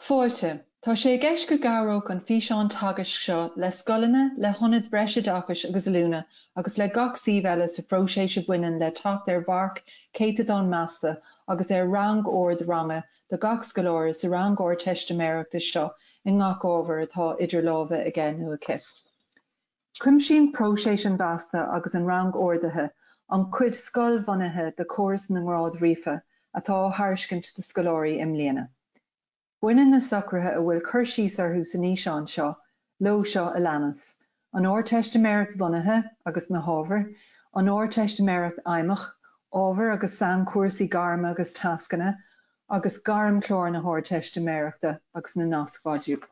Fáilte. Tá sé i gceist go gcabhródh an físeán teagaisc seo le scoileanna, le hionaid bhreisoideachais agus oiliúna agus le gach suíomh eile sa phróiseas a bhaineann le teacht ar mharc céatadán measta agus ar rangord ranga do gach scoláire sa rang Ardteistiméireachta seo i ngach ábhar atá idir lámha aige nó aici. Cuimsíonn próiseas an mheasta agus an rangordaithe an cuid scoil-bhunaithe de chóras na ngrád ríofa atá á thairiscint do scoláirí i mbliana. Baineann na socruithe a bhfuil cur síos orthu san fhíseán seo leo seo a leanas, an Ardteistiméireacht Bhunaithe agus na hábhair, an Ardteistiméireacht Fheidhmeach, ábhair agus sainchúrsaí gairme agus tascanna, agus Gairmchlár na hArdteistiméireachta agus na Nascmhodúil.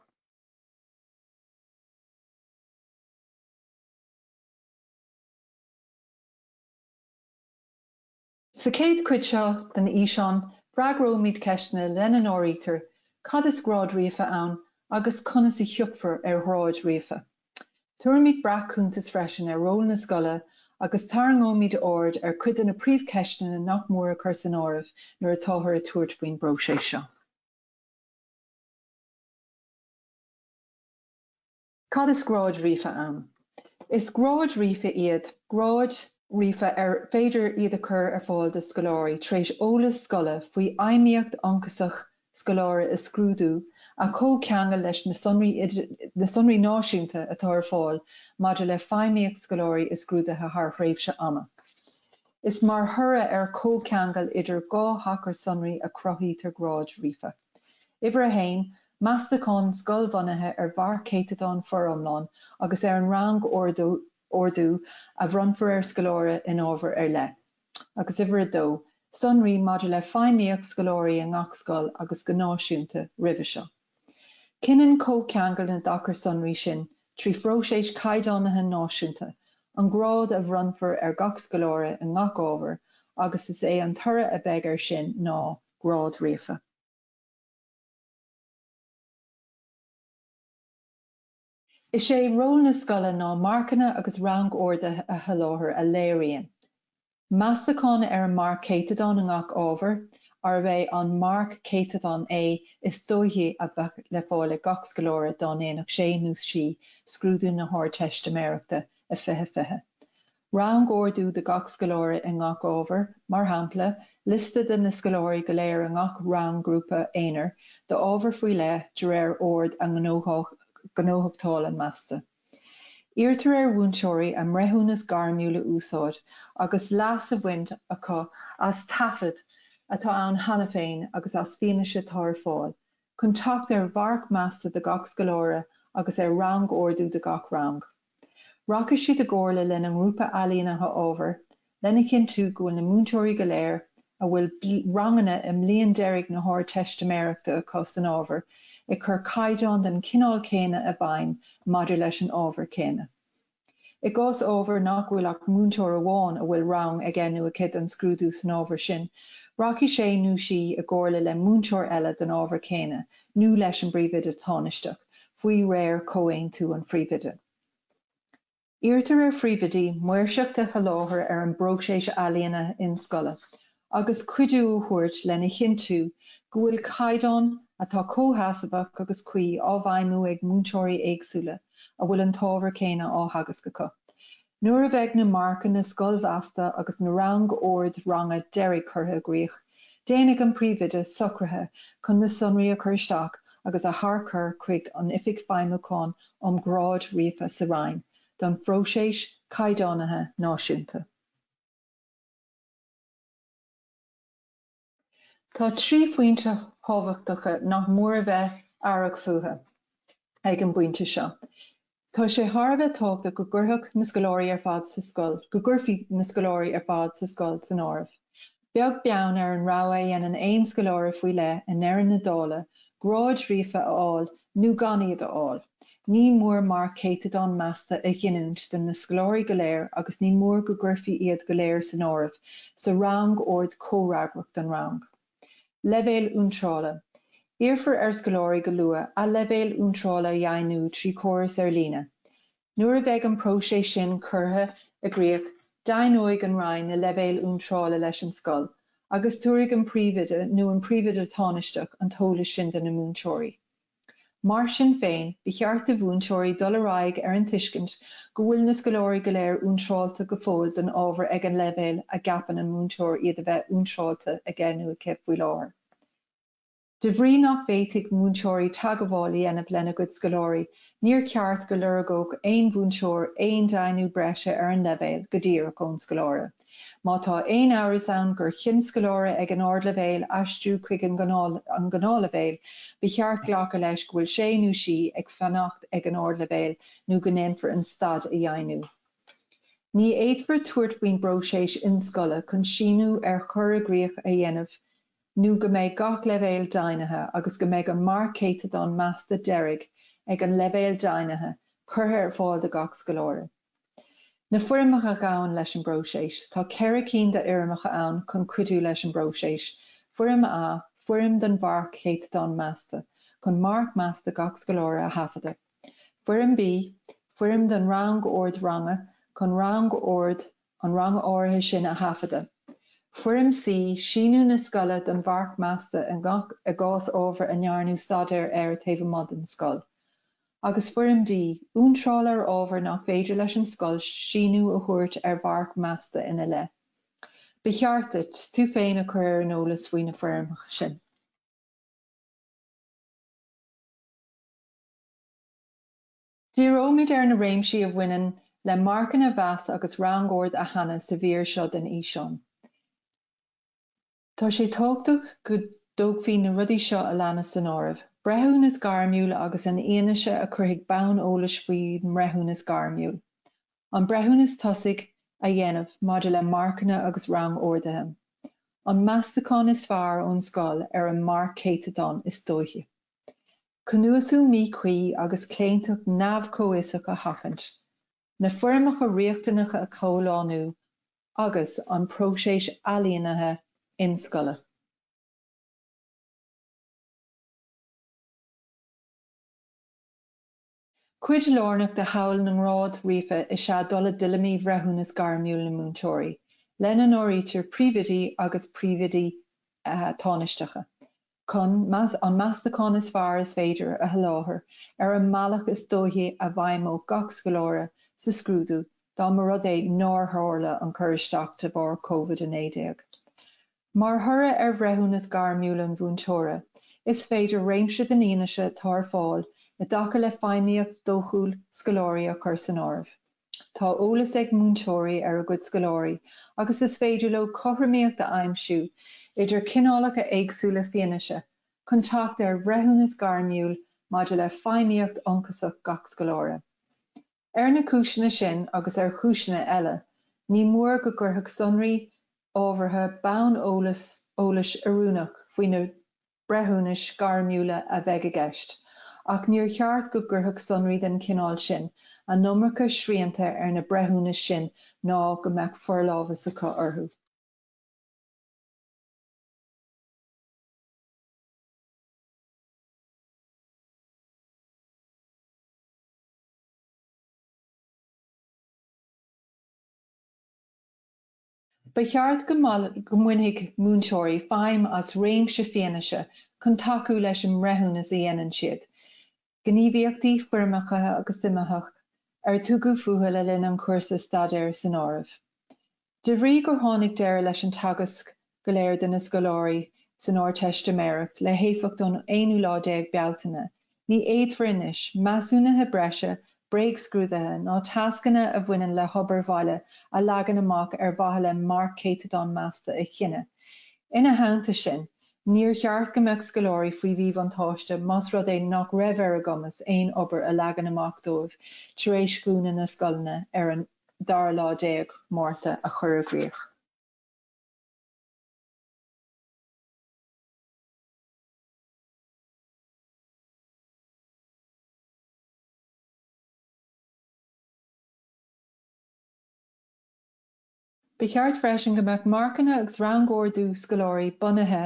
Sa chéad chuid seo den fhíseán freagróimid ceisteanna lena n-áirítear, Cad is grád ríofa ann agus conas a thiocfar ar ghráid ríofa? Tabharfaimid breac-chuntas freisin ar ról na scoile agus tarraingeoimid aird ar chuid de na príomhcheisteanna nach mór a chur san áireamh nuair atáthar ag tabhairt faoin bpróiseas seo. Cad is gráid ríofa ann? Is gráid iad gráid ríofa ar féidir iad a chur ar fáil do scoláirí tar éis eolas scoile faoi fheidhmíocht ionchasach scoláire i scrúdú a chomhcheangal leis na sonraí náisiúnta atá ar fáil maidir le feidhmíocht scoláirí i scrúduithe thar thréimhse ama. Is mar thoradh ar chomhcheangal idir dhá thacar sonraí a chruthaítear gráid ríofa. Uimhir a haon, Meastachán scoilbhunaithe ar mharc céatadán foriomlán agus ar an rangordú a bhronnfar ar scoláire in ábhar ar leith, agus uimhir a dó, Sonraí maidir le feidhmíocht scoláirí i ngach scoil agus go náisiúnta roimhe seo. Cinneann comhcheangal na dtacar sonraí sin, trí phróiseas caighdeánaithe náisiúnta, an grád a bhronnfar ar gach scoláire i ngach ábhar agus is é an toradh a bheidh air sin ná, grád ríofa. Is é ról na scoile ná marcanna agus rangorduithe a sholáthar a léiríonn, Meastachán ar an marc céatadán i ngach ábhar, arb é an marc céatadán é is dóichí a bheadh le fáil ag gach scoláire dá ndéanfadh sé nó sí scrúdú na hArdteistiméireachta i 2020, Rang-ordú do gach scoláire i ngach ábhar, mar shampla, liosta de na scoláirí go léir i ngach rang grúpa aonair d'ábhar faoi leith de réir ord a ngnóthachtála measta. Iarrtar ar mhúinteoirí a mbreithiúnas gairmiúil a úsáid agus leas a bhaint acu as taifead atá ann cheana féin agus as fianaise atá ar fáil chun teacht ar mharc measta do gach scoláire agus ar rang-ordú do gach rang. Rachaidh siad i gcomhairle lena ngrúpa Ailínithe Ábhair lena chinntiú go bhfuil na múinteoirí go léir a bhfuil ranganna i mbliain deiridh na hArdteistiméireachta acu san ábhar ag cur caighdeán den chineál céanna i bhfeidhm maidir leis an ábhar céanna. I gcás ábhair nach bhfuil ach múinteoir amháin a bhfuil rang aige nó aici don scrúdú san ábhar sin, rachaidh sé nó sí i gcomhairle le múinteoir eile don ábhar céanna nó leis an bPríomhoide Tánaisteach, faoi réir comhaontú an Phríomhoide. Iarrtar ar Phríomhoidí maoirseacht a sholáthar ar an bpróiseas Ailínithe Inscoile agus cuidiú a thabhairt lena chinntiú go bhfuil caighdeán atá comhsheasmhach agus cuí á bhfeidhmiú ag múinteoirí éagsúla a bhfuil an t-ábhar céanna á theagasc acu. Nuair a bheidh na marcanna scoilmheasta agus na rangoird ranga deiridh curtha i gcrích, déanfaidh an Príomhoide socruithe chun na sonraí a chur isteach agus a tharchur chuig an Oifig Feidhmiúcháin um Ghráid Ríofa sa Roinn don phróiseas caighdeánaithe náisiúnta. Tá trí phointe thábhachtacha nach mór a bheith aireach fúthu ag an bpointe seo. Tá sé thar a bheith tábhachtach go gcuirfeadh na scoláirí ar fad sa scoil, go gcuirfí na scoláirí ar fad sa scoil san áireamh, beag beann ar an rogha a dhéanann aon scoláire faoi leith i ndeireadh na dála, gráid ríofa a fháil nó gan iad a fháil. Ní mór marc céatadán measta a ghiniúint do na scoláirí go léir agus ní mór go gcuirfí iad go léir san áireamh sa rangord comhfhreagrach don rang. Leibhéal iontrála, Iarrfar ar scoláirí go luath a leibhéal iontrála a dheimhniú trí chóras ar líne. Nuair a bheidh an próiseas sin curtha i gcrích deimhneoidh an roinn na leibhéil iontrála leis an scoil agus tabharfaidh an príomhoide nó an príomhoide tánaisteach an t-eolas sin do na múinteoirí. Mar sin féin, ba cheart do mhúinteoirí dul ar aghaidh ar an tuiscint go bhfuil na scoláirí go léir iontráilte go fóill don ábhar ag an leibhéal a gceapann an múinteoir iad a bheith iontráilte aige nó aici faoi láthair. De bhrí nach bhféadfaidh múinteoirí teagmháil a dhéanamh lena gcuid scoláirí, níor cheart go lorgódh aon mhúinteoir aon deimhniú breise ar an leibhéal go díreach ón scoláire. Má tá aon amhras ann gur chinn scoláire ag an ardleibhéal aistriú chuig an ngnáthleibhéal, ba cheart glacadh leis go bhfuil sé nó sí ag fanacht ag an ardleibhéal nó go ndéanfar an staid a dheimhniú. Ní fhéadfar tabhairt faoin bpróiseas inscoile chun síniú ar chur i gcrích a dhéanamh nó go mbeidh gach leibhéal deimhnithe agus go mbeidh an marc céatadán measta deiridh ag an leibhéal deimhnithe curtha ar fáil do gach scoláire. Na foirmeacha a ghabhann leis an bpróiseas. Tá ceithre cinn d'fhoirmeacha ann chun cuidiú leis an bpróiseas, Foirm A, foirm don mharc céatadán measta, chun marc measta gach scoláire a thaifeadadh, Foirm B, foirm don rangord ranga, chun rangord an ranga áirithe sin a thaifeadadh, Foirm C, síniú na scoile don mharc measta i ngach, i gcás ábhair a ndearnadh staidéar air taobh amuigh den scoil. agus Foirm D, iontráil ar ábhar nach féidir leis an scoil síniú a thabhairt ar mharc measta ina leith. Ba cheart duit tú féin a chur ar an eolas faoi na foirmeacha sin. Díreoimid ar na réimsí a bhaineann le marcanna a mheas agus rangord a shannadh sa mhír seo den fhíseán. Tá sé tábhachtach go dtógfaí na rudaí seo a leanas san áireamh, breithiúnas gairmiúil agus an fhianaise a chuirfidh bonn eolais faoin mbreithiúnas gairmiúil, an breithiúnas tosaigh a dhéanamh maidir le marcanna agus rangorduithe, an meastachán is fearr ón scoil ar an marc céatadán is dóichí, cnuasú míchuí agus claontacht neamhchomhfhiosach a sheachaint. na foirmeacha riachtanacha a chomhlánú agus an próiseas ailínithe inscoile. Cuid lárnach de shamhail na ngrád ríofa is ea dul i dtuilleamaí bhreithiúnas gairmiúil na múinteoirí, lena n-áirítear príomhoidí agus príomhoidí tánaisteacha. chun an meastachán is fearr is féidir a sholáthar ar an mbealach is dóichí a bhfeidhmeodh gach scoláire sa scrúdú dá mba rud é nár tharla an cur isteach de bharr COVID-19. Mar thoradh ar bhreithiúnas gairmiúil an mhúinteora, is féidir réimse den fhianaise atá ar fáil i dtaca le feidhmíocht dhóchúil scoláirí a chur san áireamh. Tá eolas ag múinteoirí ar a gcuid scoláirí agus is féidir leo cothromaíocht a aimsiú idir cineálacha éagsúla fianaise chun teacht ar bhreithiúnas gairmiúil maidir le feidhmíocht ionchasach gach scoláire. Ar na cúiseanna sin agus ar chúiseanna eile, ní mór go gcuirfeadh sonraí ábhartha bonn eolais eolais oiriúnach faoi na. breithiúnais gairmiúla a bheidh i gceist, ach níor cheart go gcuirfeadh sonraí den chineál sin an iomarca srianta ar na breithiúnais sin ná go mbeadh forlámhas acu orthu. Ba cheart go mbainfeadh múinteoirí feidhm as réimse fianaise chun tacú leis an mbreithiúnas a dhéanann siad, gníomhaíochtaí foirmeacha agus suimitheacha ar tugadh fúthu le linn an chúrsa staidéir san áireamh. De bhrí gur tháinig deireadh leis an teagasc go léir do na scoláirí san Ardteistiméireacht le héifeacht ón aonú lá déag Bealtaine Ní fhéadfar anois measúnuithe breise, bréagscrúduithe ná tascanna a bhaineann le hobair bhaile a leagan amach ar mhaithe le marc céatadán measta a chinneadh. Ina theannta sin, níor cheart go mbeadh scoláirí faoi mhíbhuntáiste más rud é nach raibh ar a gcumas aon obair a leagadh amach dóibh tar éis dhúnadh na scoileanna ar an dara lá déag Márta, a chur i gcrích. Ba cheart freisin go mbeadh marcanna agus rangordú scoláirí bunaithe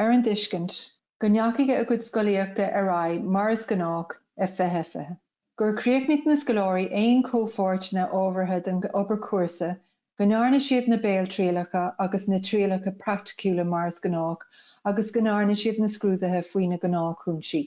ar an dtuiscint go ndeachaigh a gcuid scolaíochta ar aghaidh mar is gnách i 2020. gur chríochnaigh na scoláirí aon chomhpháirteanna ábhartha den obair chúrsa, go ndearna siad na béaltrialacha agus na trialacha praiticiúla mar is gnách agus go ndearna siad na scrúduithe faoi na gnáthchúinsí.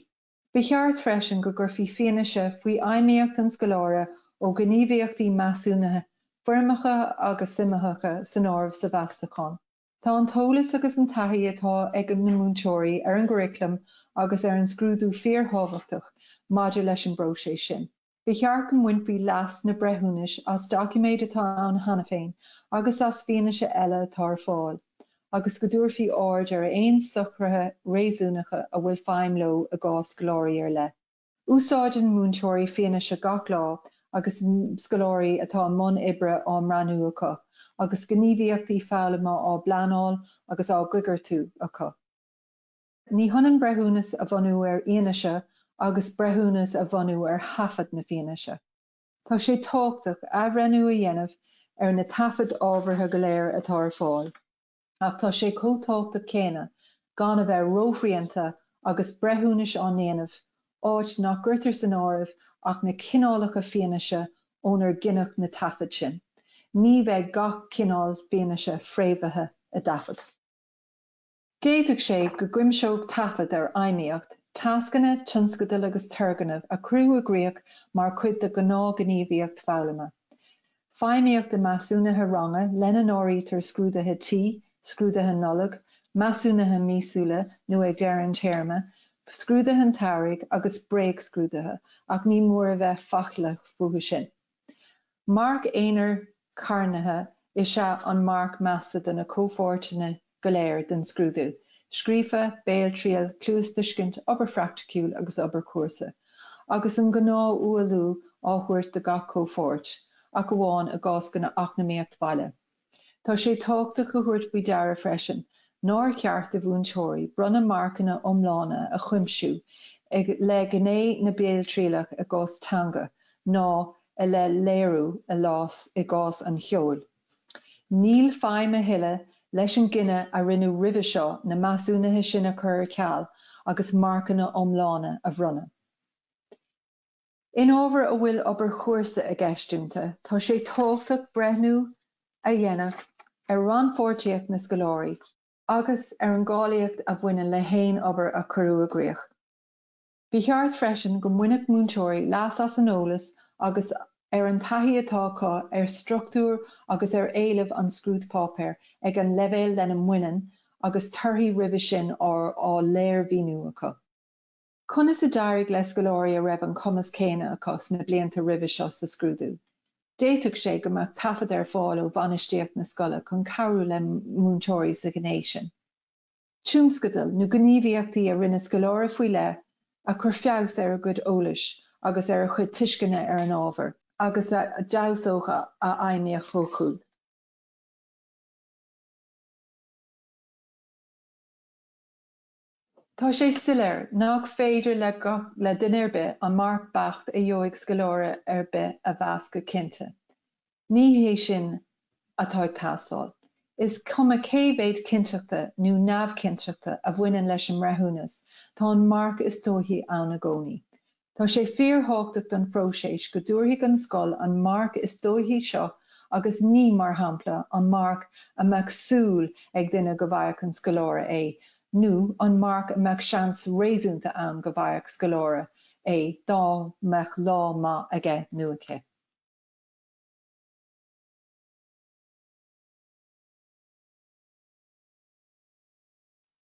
Ba cheart freisin go gcuirfí fianaise faoi fheidhmíocht an scoláire ó ghníomhaíochtaí measúnaithe foirmeacha agus suimitheacha san áireamh sa mheastachán. Tá an t-eolas agus an taithí atá ag na múinteoirí ar an gcuraclam agus ar an scrúdú fíorthábhachtach maidir leis an bpróiseas sin. Ba cheart go mbainfí leas sna breithiúnais as doiciméid atá ann cheana féin agus as fianaise eile atá ar fáil agus go dtabharfaí aird ar aon socruithe réasúnacha a bhfuil feidhm leo i gcás scoláirí ar leith. Úsáideann múinteoirí fianaise gach lá agus scoláirí atá i mbun oibre á mbreathnú acu, agus gníomhaíochtaí foghlama á bpleanáil agus á gcoigeartú acu. Ní hionann breithiúnas a bhunú ar fhianaise agus breithiúnas a bhunú ar thaifead na fianaise. Tá sé tábhachtach athbhreithniú a dhéanamh ar na taifid ábhartha go léir atá ar fáil. ach tá sé chomh tábhachtach céanna gan a bheith róshrianta agus breithiúnais á ndéanamh, áit nach gcuirtear san áireamh ach na cineálacha fianaise ónar gineadh na taifid sin. Ní bheidh gach cineál fianaise fréamhaithe i dtaifead. D'fhéadfadh sé go gcuimseodh taifead ar fheidhmíocht, tascanna, tionscadail agus turgnaimh a cuireadh i gcrích mar chuid de ghnáthghníomhaíocht foghlama. Feidhmíocht i Measúnuithe Ranga, lena n-áirítear Scrúduithe Tí, Scrúduithe Nollag, Measúnuithe Míosúla nó ag deireadh an téarma, Scrúduithe an tSamhraidh agus Bréagscrúduithe, ach ní mór a bheith faichilleach fúthu sin. Marc aonair carntha is ea an marc measta do na comhpháirteanna go léir den scrúdú, scríofa, béaltriail, cluastuiscint, obair phraicticiúil agus obair chúrsa, agus an gnáth-ualú á thabhairt do gach comhpháirt, ach amháin i gcás na heacnamaíochta baile. Tá sé tábhachtach a thabhairt faoi deara freisin nár cheart do mhúinteoirí bronnadh marcanna iomlána a chuimsiú i leith gné na béaltrialach i gcás teanga ná i leith léiriú i gcás an cheoil. Níl feidhm a thuilleadh leis an gcinneadh a rinneadh roimhe seo na measúnuithe sin a chur ar ceal agus marcanna iomlána a bhronnadh. In ábhair a bhfuil obair chúrsa i gceist iontu, tá sé tábhachtach breithniú a dhéanamh ar rannpháirtíocht na scoláirí agus ar an gcáilíocht a bhaineann le haon obair a cuireadh i gcrích. Ba cheart freisin go mbainfeadh múinteoirí leas as an eolas agus ar an taithí atá acu ar struchtúr agus ar éilimh an scrúdpháipéir ag an leibhéal lena mbaineann agus torthaí roimhe sin á léirmhíniú acu. Conas a d'éirigh le scoláirí a raibh an cumas céanna acu sna blianta roimhe seo sa scrúdú? D'fhéadfadh sé go mbeadh taifead ar fáil ó bhainistíocht na scoile chun cabhrú le múinteoirí sa ghné sin. Tionscadail nó gníomhaíochtaí a rinne scoláire faoi leith a chuir feabhas ar a gcuid eolais agus ar a chuid tuisceana ar an ábhar agus a d'fheabhsódh a fheidhmíocht dhóchúil. Tá sé soiléir nach féidir le duine ar bith an marc beacht a gheobhaidh scoláire ar bith a mheas go cinnte. Ní hé sin atá ag teastáil. Is cuma cé mhéid cinnteachta nó neamhchinnteachta a bhaineann leis an mbreithiúnas, tá an marc is dóichí ann i gcónaí. Tá sé fíorthábhachtach don phróiseas go dtabharfaidh an scoil an marc is dóichí seo agus ní, mar shampla, an marc a mbeadh súil ag duine go bhfaigheadh an scoláire é nó an marc a mbeadh seans réasúnta ann go bhfaigheadh scoláire é dá mbeadh lá maith aige nó aici.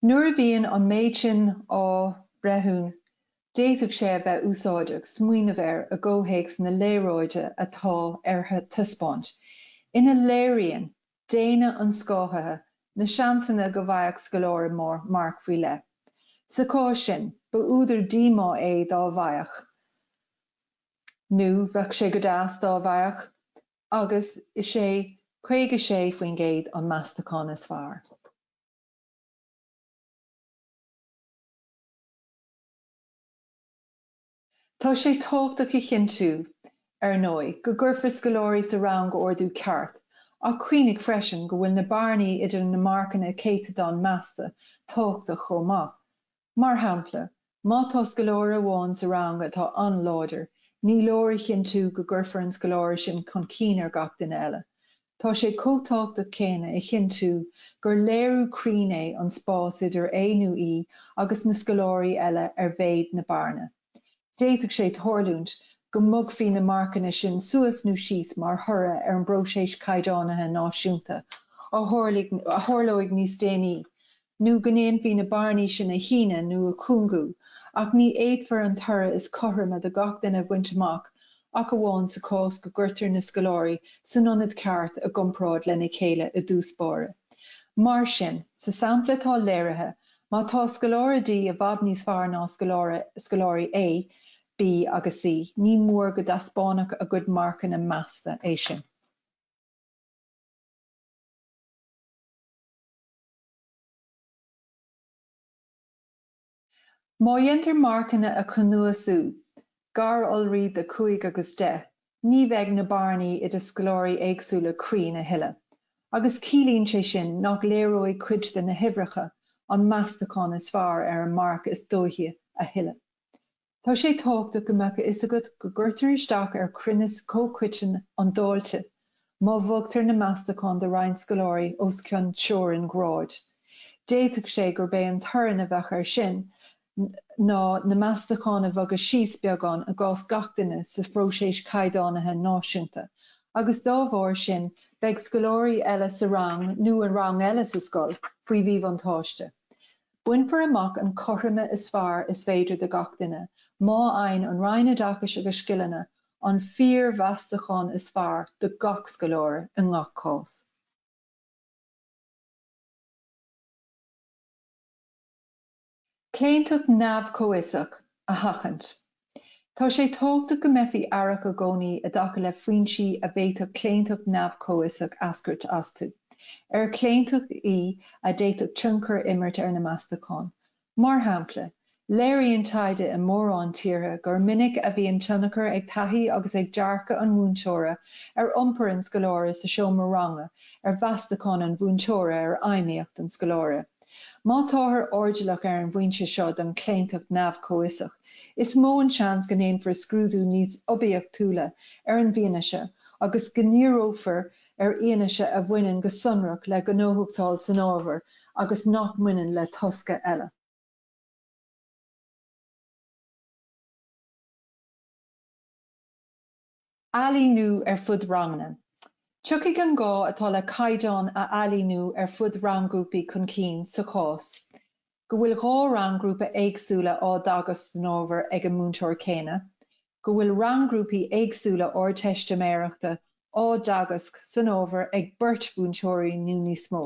Nuair a bhíonn an méid sin á bhreithiún, d'fhéadfadh sé a bheith úsáideach smaoineamh air i gcomhthéacs na léaráide atá ar taispeáint, ina léiríonn déine an scáthaithe na seansanna go bhfaigheadh scoláire marc faoi leith. Sa chás sin, ba údar díomá é dá bhfaigheadh. nó bheadh sé go deas dá bhfaigheadh, agus is é 56% an meastachán is fearr. Tá sé tábhachtach a chinntiú, ar ndóigh, go gcuirfear scoláirí sa rangordú ceart, ach cuimhnigh freisin go bhfuil na bearnaí idir na marcanna céatadáin measta tábhachtach chomh maith. Mar shampla, má tá scoláire amháin sa rang atá an-láidir, ní leor a chinntiú go gcuirfear an scoláire sin chun cinn ar gach duine eile. Tá sé chomh tábhachtach céanna a chinntiú gur léiriú cruinn é an spás idir é nó í agus na scoláirí eile ar mhéid na bearna. D'fhéadfadh sé tarlúint go mbogfaí na marcanna sin suas nó síos mar thoradh ar an bpróiseas caighdeánaithe náisiúnta a tharlóidh níos déanaí, nó go ndéanfaí na bearnaí sin a shíneadh nó a chúngú, ach ní fhéadfar an toradh is cothroime do gach duine a bhaint amach ach amháin sa chás go gcuirtear na scoláirí san ionad ceart i gcomparáid lena chéile i dtús báire. Mar sin, sa sampla atá léirithe, má tá scoláire D i bhfad níos fearr ná scoláire, scoláirí A, B agus C, ní mór go dtaispeánfadh a gcuid marcanna measta é sin. Má dhéantar marcanna a chnuasú gar d'iolraí de 5 agus 10, ní bheidh na bearnaí idir scoláirí éagsúla cruinn a thuilleadh, agus ciallaíonn sé sin nach léireoidh cuid de na huimhreacha an meastachán is fearr ar an marc is dóichí a thuilleadh. Tá sé tábhachtach go mbeadh a fhios agat go gcuirtear isteach ar chruinneas comhchoiteann an dáilte má bhogtar na meastacháin do roinnt scoláirí os cionn teorainn ghráid. D'fhéadfadh sé gurb é an toradh a bheadh air sin ná na meastacháin a bhogadh síos beagán i gcás gach duine sa phróiseas caighdeánaithe náisiúnta agus dá bharr sin beidh scoláirí eile sa rang nó i rang eile sa scoil faoi mhíbhuntáiste. Bainfear amach an cothroime is fearr is féidir do gach duine má fhaigheann an Roinn Oideachais agus Scileanna an fíormheastachán is fearr do gach scoláire i ngach cás. Claontacht neamh-chomhfhiosach a sheachaint. Tá sé tábhachtach go mbeifí aireach i gcónaí i dtaca le foinsí a bhféadfadh claontacht neamh-chomhfhiosach eascairt astu, ar claontacht í a d'fhéadfadh tionchar a imirt ar na meastacháin. Mar shampla, léiríonn taighde i mórán tíortha gur minic a bhíonn tionchar ag taithí agus ag dearcadh an mhúinteora ar iompar an scoláire sa seomra ranga ar mheastacháin an mhúinteora ar fheidhmíocht an scoláire. Má táthar airdeallach ar an bhfoinse seo den chlaontacht neamh-chomhfhiosach, is mó an seans go ndéanfar scrúdú níos oibiachtúla ar an bhfianaise agus go ndíreofar ar fhianaise a bhaineann go sonrach le gnóthachtáil san ábhar agus nach mbaineann le tosca eile. ailíniú ar fud ranganna. Tiocfaidh an gá atá le caighdeáin a ailíniú ar fud rang-ghrúpaí chun cinn sa chás go bhfuil dhá rang-ghrúpa éagsúla á dteagasc san ábhar ag an múinteoir céanna, go bhfuil rang-ghrúpaí éagsúla Ardteistiméireachta á dteagasc san ábhar ag beirt mhúinteoirí nó níos mó.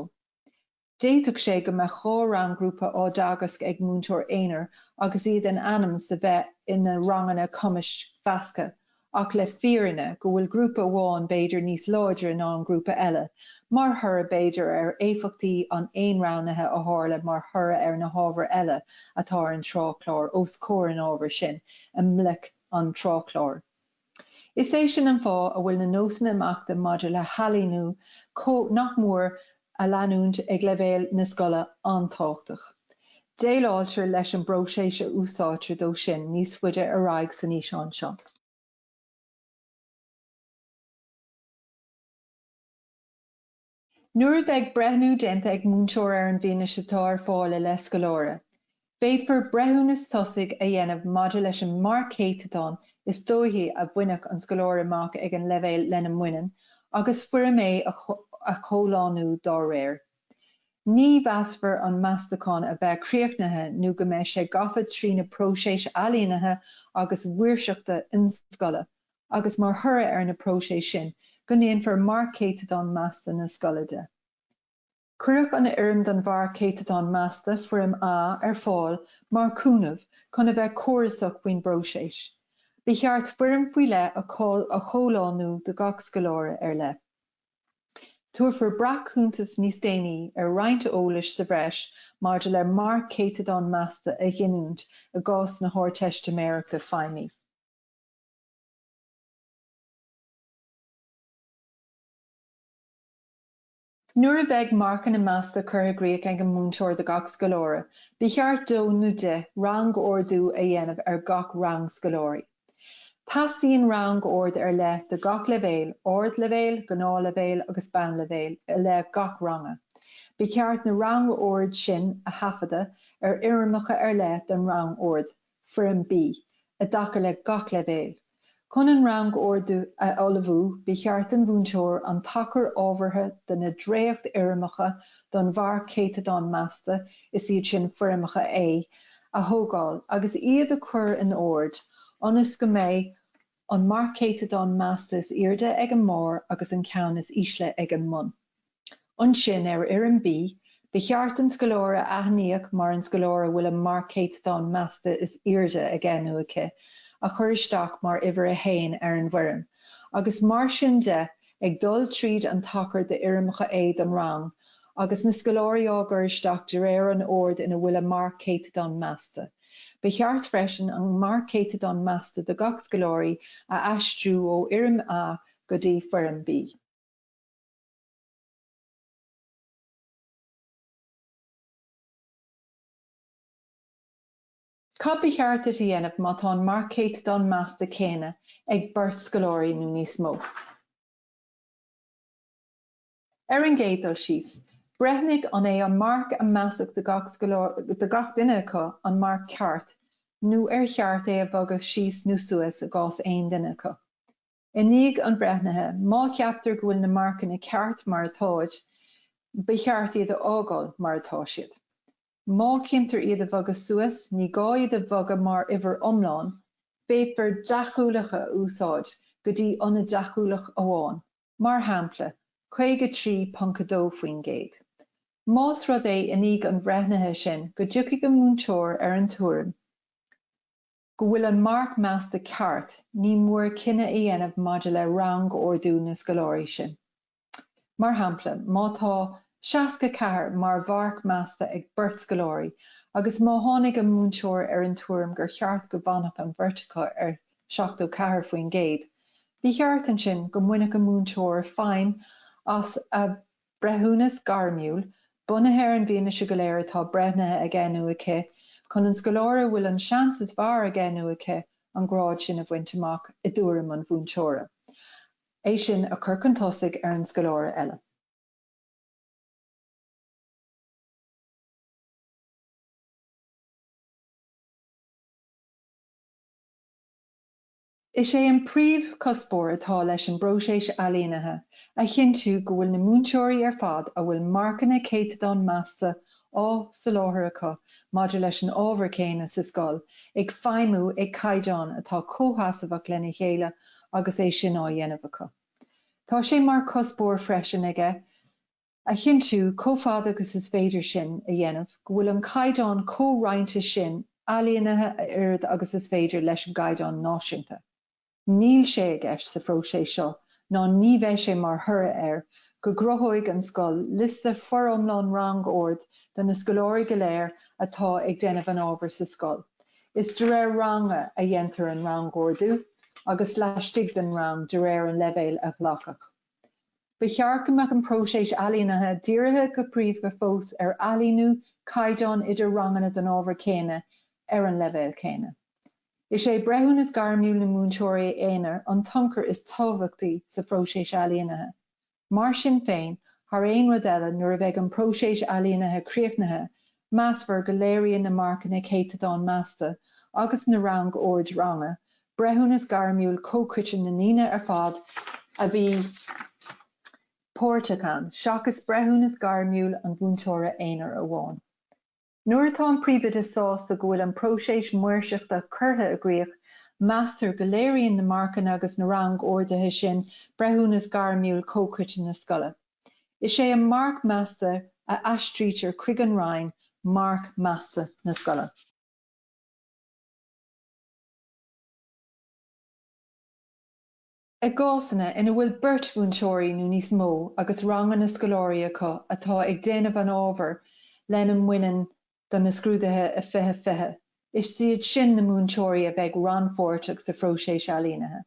D'fhéadfadh sé go mbeadh dhá rang-ghrúpa á dteagasc ag múinteoir aonair agus iad in ainm 's a bheith ina ranganna cumais mheasctha, ach le fírinne go bhfuil grúpa amháin b'fhéidir níos láidre ná an grúpa eile, mar thoradh b'fhéidir ar éifeachtaí an aonroghnaithe a tharla mar thoradh ar na hábhair eile atá ar an tráthchlár os comhair an ábhair sin i mbloic an tráthchláir. Is é sin an fáth a bhfuil na nósanna imeachta maidir le hailíniú comh nach mór a leanúint ag leibhéal na scoile an-tábhachtach. Déileáiltear leis an bpróiseas a úsáidtear dó sin níos faide ar aghaidh san fhíseán seo. Nuair a bheidh breithniú déanta ag múinteoir ar an bhfianaise atá ar fáil i leith scoláire, féadfar breithiúnas tosaigh a dhéanamh maidir leis an marc céatadáin is dóichí a bhainfeadh an scoláire amach ag an leibhéal lena mbaineann agus Foirm A a chomhlánú dá réir. Ní mheasfar an meastachán a bheith críochnaithe nó go mbeidh sé gafa trí na próisis ailínithe agus maoirseachta ionscoile agus mar thoradh ar na próisis sin go ndéanfar marc céatadán measta na scoile de. Cuireadh an fhoirm don mharc céatadán measta, Foirm A, ar fáil mar chúnamh chun a bheith córasach faoin bpróiseas. Ba cheart foirm faoi leith a chomhlánú do gach scoláire ar leith. Tabharfar breac-chuntas níos déanaí ar roinnt eolais sa bhreis maidir le marc céatadán measta a ghiniúint i gcás na hArdteistiméireachta Feidhmí. Nuair a bheidh marcanna measta curtha i gcríoch ag an múinteoir do gach scoláire, ba cheart dó nó di rangordú a dhéanamh ar gach rang scoláirí. Teastaíonn rangord ar leith do gach leibhéal, Ardleibhéal, Gnáthleibhéal agus Bonnleibhéal, i leith gach ranga. Ba cheart na rangoird sin a thaifeadadh ar fhoirmeacha ar leith don rangord. Foirm B, i dtaca le gach leibhéal. Chun an rangordú a ullmhú ba cheart don mhúinteoir an tacar ábhartha do na dréacht-fhoirmeacha don mharc céatadán measta, is iad sin Foirmeacha A, a thógáil agus iad a chur in ord ionas go mbeidh An marc céatadán measta is airde ag an mbarr agus an ceann is ísle ag an mbun. Ansin, ar Fhoirm B, ba cheart an scoláire a aithníodh mar an scoláire a bhfuil an marc céatadán measta is airde aige nó aici a chur isteach mar uimhir 1 ar an bhfoirm, agus mar sin de, ag dul tríd an tacar d'fhoirmeacha A don rang, agus na scoláirí á gcur isteach de réir an oird ina bhfuil a marc céatadán measta. Ba cheart freisin an marc céatadán measta do gach scoláire a aistriú ó Fhoirm A go dtí Foirm B. Cad ba cheart duit a dhéanamh má tá an marc céatadán measta céanna ag beirt scoláirí nó níos mó? Ar an gcéad dul síos, breithnigh an é an marc a measadh do gach duine acu, an marc ceart nó ar cheart é a bhogadh síos nó suas i gcás aon duine acu. I ndiaidh an bhreithnithe, má cheaptar go bhfuil na marcanna ceart mar atáid, ba cheart iad a fhágáil mar atá siad. Má chinntear iad a bhogadh suas, ní gá iad a bhogadh mar uimhir iomlán, féadfar deachúlacha a úsáid go dtí ionad deachúlach amháin. mar shampla, 53.2%. Más rud é, i ndiaidh an bhreithnithe sin, go dtiocfaidh an múinteoir ar an tuairim go bhfuil an marc measta ceart, ní mór cinneadh a dhéanamh maidir le rangordú na scoláirí sin. Mar shampla, má tá 64 mar mharc measta ag beirt scoláirí agus má tháinig an múinteoir ar an tuairim gur cheart go bhfanfadh an bheirt acu ar 74%. Ba cheart ansin go mbainfeadh an múinteoir feidhm as a breithiúnas gairmiúil, bunaithe ar an bhfianaise go léir atá breithnithe aige nó aici, chun an scoláire a bhfuil an seans is fearr aige nó aici an grád sin a bhaint amach, i dtuairim an mhúinteora, é sin a chur chun tosaigh ar an scoláire eile. Is é an príomhchuspóir atá leis an bpróiseas ailínithe a chinntiú go bhfuil na múinteoirí ar fad a bhfuil marcanna céatadán measta á soláthar acu maidir leis an ábhar céanna sa scoil ag feidhmiú ag caighdeán atá comhsheasmhach lena chéile agus é sin á dhéanamh acu. Tá sé mar chuspóir freisin aige A chinntiú, chomh fada agus is féidir sin a dhéanamh, go bhfuil an caighdeán comhroinnte sin ailínithe a oiread agus is féidir leis an gcaighdeán náisiúnta. Níl sé i gceist sa phróiseas seo, ná ní bheidh sé mar thoradh air, go gcruthóidh an scoil liosta foriomlán rangoird do na scoláirí go léir atá ag déanamh an ábhair sa scoil. Is de réir ranga a dhéantar an rangordú agus laistigh den rang de réir an leibhéil a glacadh. Ba cheart go mbeadh an próiseas ailínithe dírithe go príomha fós ar ailíniú caighdeán idir ranganna den ábhar céanna ar an leibhéal céanna. Is é breithiúnas gairmiúil na múinteoirí aonair an t-ionchur is tábhachtaí sa phróiseas ailínithe. Mar sin féin, thar aon rud eile, nuair a bheidh an próiseas ailínithe críochnaithe, Measfar go léiríonn na marcanna céatadán measta agus na rangoird ranga breithiúnas gairmiúil comhchoiteann na ndaoine ar fad a bhí páirteach ann, seachas breithiúnas gairmiúil an mhúinteora aonair amháin. Nuair atá an Príomhoide sásta go bhfuil an próiseas maoirseachta curtha i gcrích, meastar go léiríonn na marcanna agus na rangorduithe sin breithiúnas gairmiúil comhchoiteann na scoile. Is é an marc measta a aistrítear chuig an roinn marc measta na scoile. I gcásanna ina bhfuil beirt mhúinteoirí nó níos mó agus ranganna scoláirí acu atá ag déanamh an ábhair lena mbaineann do na scrúduithe 2020, is iad sin na múinteoirí a bheidh rannpháirteach sa phróiseas ailínithe.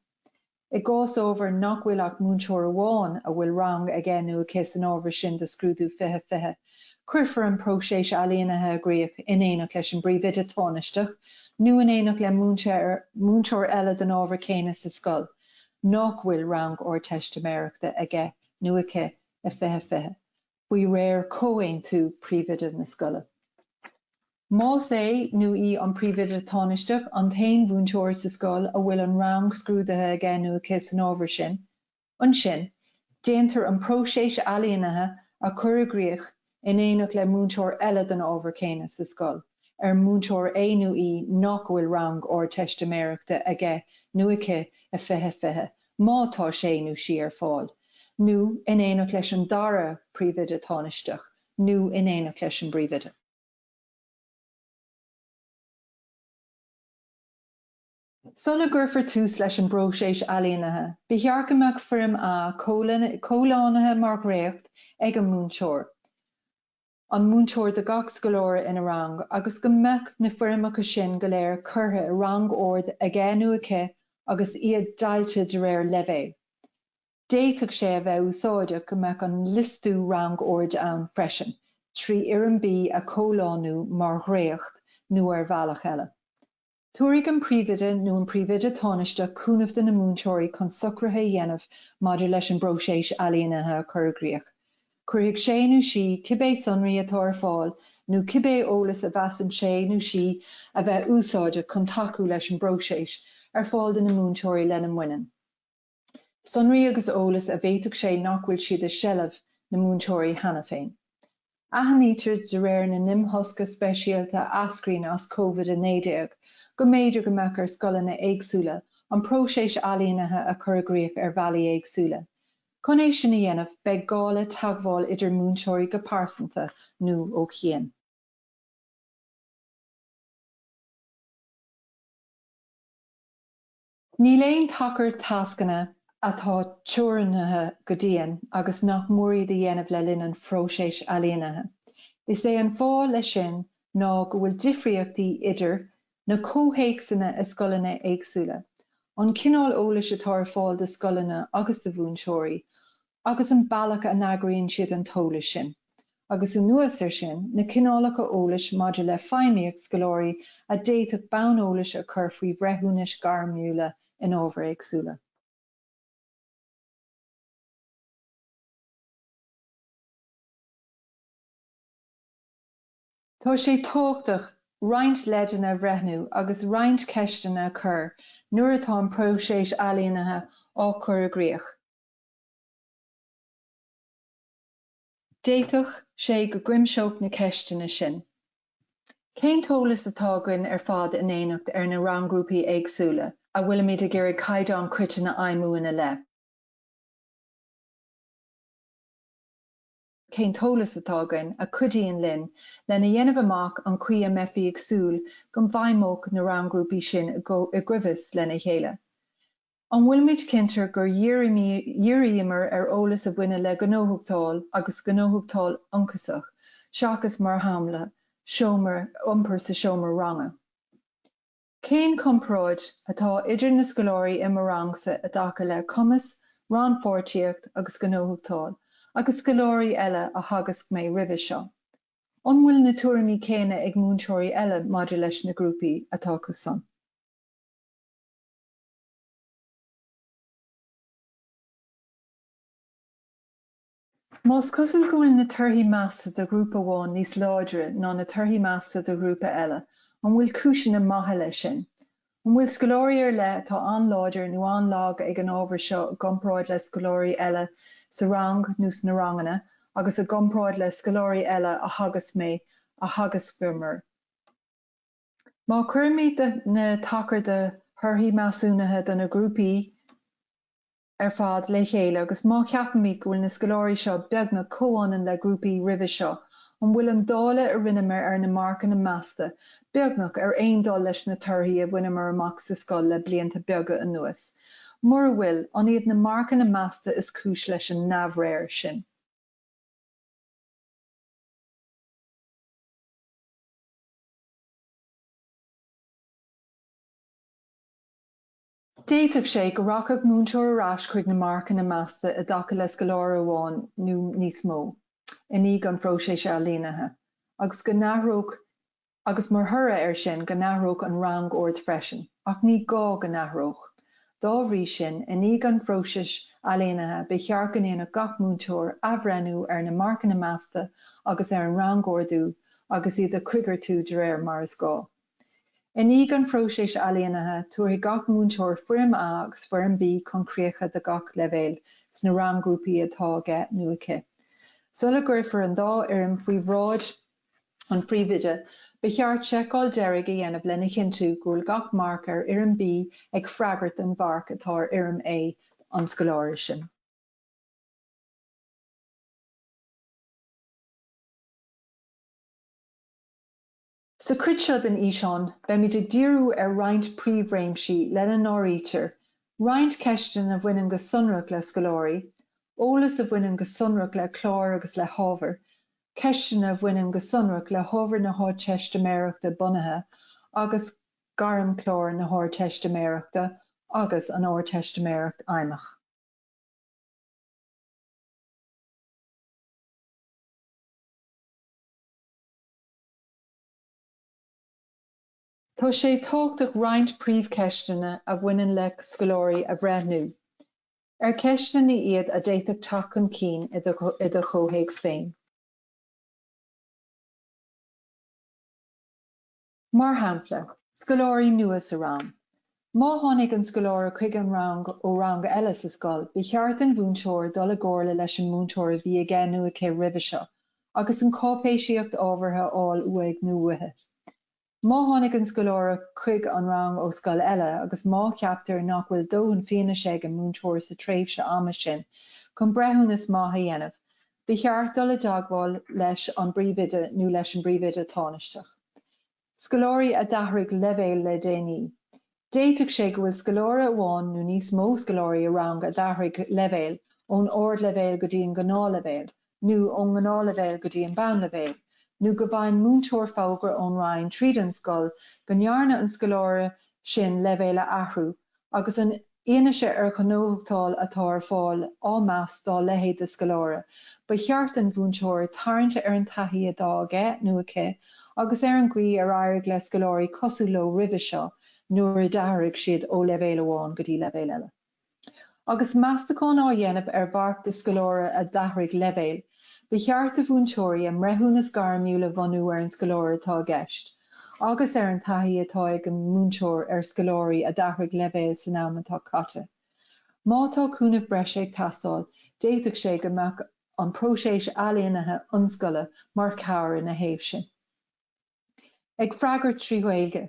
I gcás ábhair nach bhfuil ach múinteoir amháin a bhfuil rang aige nó aici san ábhar sin do scrúdú 2020, cuirfear an próiseas ailínithe i gcrích in éineacht leis an bpríomhoide tánaisteach nó in éineacht le múinteoir eile don ábhar céanna sa scoil nach bhfuil rang Ardteistiméireachta aige nó aici i 2020. faoi réir comhaontú príomhoide na scoile. Más é nó í an Príomhoide Tánaisteach an t-aon mhúinteoir sa scoil a bhfuil an rang scrúdaithe aige nó aici san ábhar sin, ansin déantar an próiseas ailínithe a chur i gcrích in éineacht le múinteoir eile den ábhar céanna sa scoil ar múinteoir é nó í nach bhfuil rang Ardteistiméireachta aige nó aici i 2020. má tá sé nó sí ar fáil, nó in éineacht leis an dara príomhoide tánaisteach nó in éineacht leis an bpríomhoide. Sula gcuirfear tús leis an bpróiseas ailínithe, ba cheart go mbeadh Foirm A comhlánaithe mar dhréacht ag an múinteoir. an múinteoir do gach scoláire ina rang agus go mbeadh na foirmeacha sin go léir curtha i rangord aige nó aici agus iad deighilte de réir leibhéil. D'fhéadfadh sé a bheith úsáideach go mbeadh an liostú rangoird ann freisin, trí fhoirm B a chomhlánú mar dhréacht nó ar bhealach eile. Tabharfaidh an Príomhoide nó an Príomhoide Tánaisteach cúnamh do na múinteoirí chun socruithe a dhéanamh maidir leis an bpróiseas ailínithe a chur i gcrích. Cuirfidh sé nó sí cibé sonraí atá ar fáil nó cibé eolas a mheasann sé nó sí a bheith úsáideach chun tacú leis an bpróiseas, ar fáil do na múinteoirí lena mbaineann. sonraí agus eolas a bhféadfadh sé nach bhfuil siad i seilbh na múinteoirí cheana féin. Aithnítear de réir na n-imthosca speisialta a eascraíonn as Covid-19 go mb'fhéidir go mbeadh ar scoileanna éagsúla an próiseas ailínithe a chur i gcrích ar bhealaí éagsúla. Chun é sin a dhéanamh beidh gá le teagmháil idir múinteoirí go pearsanta nó ó chian. Níl aon tacar tascanna atá teorannaithe go dian agus nach mór iad a dhéanamh le linn an phróiséis ailínithe. Is é an fáth leis sin ná go bhfuil difríochtaí idir na comhthéacsanna i scoileanna éagsúla, an cineál eolais atá ar fáil do scoileanna agus do mhúinteoirí, agus an bealach a n-eagraíonn siad an t-eolas sin, agus anuas air sin, na cineálacha eolais maidir le feidhmíocht scoláirí a d'fhéadfadh bonn eolais a chur faoi bhreithiúnais ghairmiúla in ábhair éagsúla. Tá sé tábhachtach roinnt leideanna a bhreithniú agus roinnt ceisteanna a chur nuair atá an próiseas ailínithe á chur i gcrích. D'fhéadfadh sé go gcuimseodh na ceisteanna sin cén t-eolas atá againn ar fad in éineacht ar na ranggrúpaí éagsúla a bhfuilimid ag iarraidh caighdeán coiteann a fheidhmiú ina leith. Cén t-eolas atá againn a chuidíonn linn lena dhéanamh amach an chaoi a mbeifí ag súil go bhfeidhmeodh na rang-ghrúpaí sin i gcoimheas lena chéile? An bhfuilimid cinnte gur dhíríomar ar eolas a bhaineann le gnóthachtáil agus gnóthachtáil ionchasach seachas, mar shampla, iompar sa seomra ranga? Cén comparáid atá idir na scoláirí i mo rangsa i dtaca le cumas, rannpháirtíocht agus gnóthachtáil agus scoláirí eile a theagasc mé roimhe seo? An bhfuil na tuairimí céanna ag múinteoirí eile maidir leis na grúpaí atá acusan. Más cosúil go bhfuil na torthaí measta de ghrúpa amháin níos láidre ná na torthaí measta de ghrúpa eile, an bhfuil cúiseanna maithe leis sin? An bhfuil scoláirí ar leith atá an-láidir nó an-lag ag an ábhar seo i gcomparáid le scoláirí eile sa rang nó sna ranganna agus i gcomparáid le scoláirí eile a theagasc mé, a theagascamar? Má chuirimid na tacair de thorthaí measúnaithe do na grúpaí. ar fad le chéile agus má cheapaimid go bhfuil na scoláirí seo beagnach comhionann le grúpaí roimhe seo, an bhfuil an dáileadh a rinneamar ar na marcanna measta beagnach ar aon dul leis na torthaí a bhaineamar amach sa scoil le blianta beaga anuas? Mura bhfuil, an iad na marcanna measta is cúis leis an neamhréir sin? D'fhéadfadh sé go rachadh múinteoir ar ais chuig na marcanna measta i dtaca le scoláire amháin nó níos mó i ndiaidh an phróisis ailínithe agus mar thoradh air sin go n-athródh an rang-ord freisin, ach ní gá go n-athródh. Dá bhrí sin, i ndiaidh an phróisis ailínithe, ba cheart go ndéanfadh gach múinteoir athbhreithniú ar na marcanna measta agus ar an rangordú agus iad a choigeartú de réir mar is gá. I ndiaidh an phróisis ailínithe, tabharfaidh gach múinteoir Foirm A agus Foirm B chun críche do gach leibhéal sna rang-ghrúpaí atá aige nó aici. Sula gcuirfear an dá fhoirm faoi bhráid an Phríomhoide, ba cheart seiceáil deiridh a dhéanamh lena chinntiú go bhfuil gach marc ar Fhoirm B ag freagairt don mharc atá ar Fhoirm A an scoláire sin. Sa chuid seo den fhíseán beimid ag díriú ar roinnt príomhréimsí lena n-áirítear, roinnt ceisteanna a bhaineann go sonrach le scoláirí, eolas a bhaineann go sonrach le cláir agus le hábhair, ceisteanna a bhaineann go sonrach le hábhair na hArdteistiméireachta Bunaithe agus Gairmchlár na hArdteistiméireachta agus an Ardteistiméireacht Fheidhmeach. Tá sé tábhachtach roinnt príomhcheisteanna a bhaineann le scoláirí a bhreithniú, ar ceisteanna iad a d'fhéadfadh teacht chun cinn i do chomhthéacs féin. Mar shampla, scoláirí nua sa rang, Má tháinig an scoláire chuig an rang ó rang eile sa scoil, ba cheart don mhúinteoir dul i gcomhairle leis an múinteoir a bhí aige nó aici roimhe seo agus an cháipéisíocht ábhartha a fháil uaidh nó uaithi. Má tháinig an scoláire chuig an rang ó scoil eile agus má cheaptar nach bhfuil dóthain fianaise ag an múinteoir sa tréimhse ama sin chun breithiúnas maith a dhéanamh, ba cheart dul i dteagmháil leis an bpríomhoide nó leis an bpríomhoide tánaisteach. Scoláirí a d'athraigh leibhéal le déanaí. D'fhéadfadh sé go bhfuil scoláire amháin nó níos mó scoláirí i rang a d'athraigh leibhéal, ón Ardleibhéal go dtí an Gnáthleibhéal, nó ón nGnáthleibhéal go dtí an Bonnleibhéal, nó go bhfaigheann múinteoir fógra ón Roinn tríd an scoil go ndearna an scoláire sin leibhéal a athrú Agus an fhianaise ar ghnóthachtáil atá ar fáil á meas dá leithéid de scoláire, ba cheart don mhúinteoir tarraingt ar an taithí atá aige nó aici agus ar an gcaoi ar éirigh le scoláirí cosúil leo roimhe seo nuair a d'athraigh siad ó leibhéal amháin go dtí leibhéal eile. Agus meastachán á dhéanamh ar mharc do scoláire a d'athraigh leibhéal, ba cheart do mhúinteoirí a mbreithiúnas gairmiúil a bhunú ar an scoláire atá i gceist, agus ar an taithí atá ag an múinteoir ar scoláirí a d'athraigh leibhéal san am atá caite. Má tá cúnamh breise ag teastáil, d'fhéadfadh sé go mbeadh an próiseas ailínithe ionscoile mar chabhair ina thaobh sin. Ag freagairt trí Ghaeilge.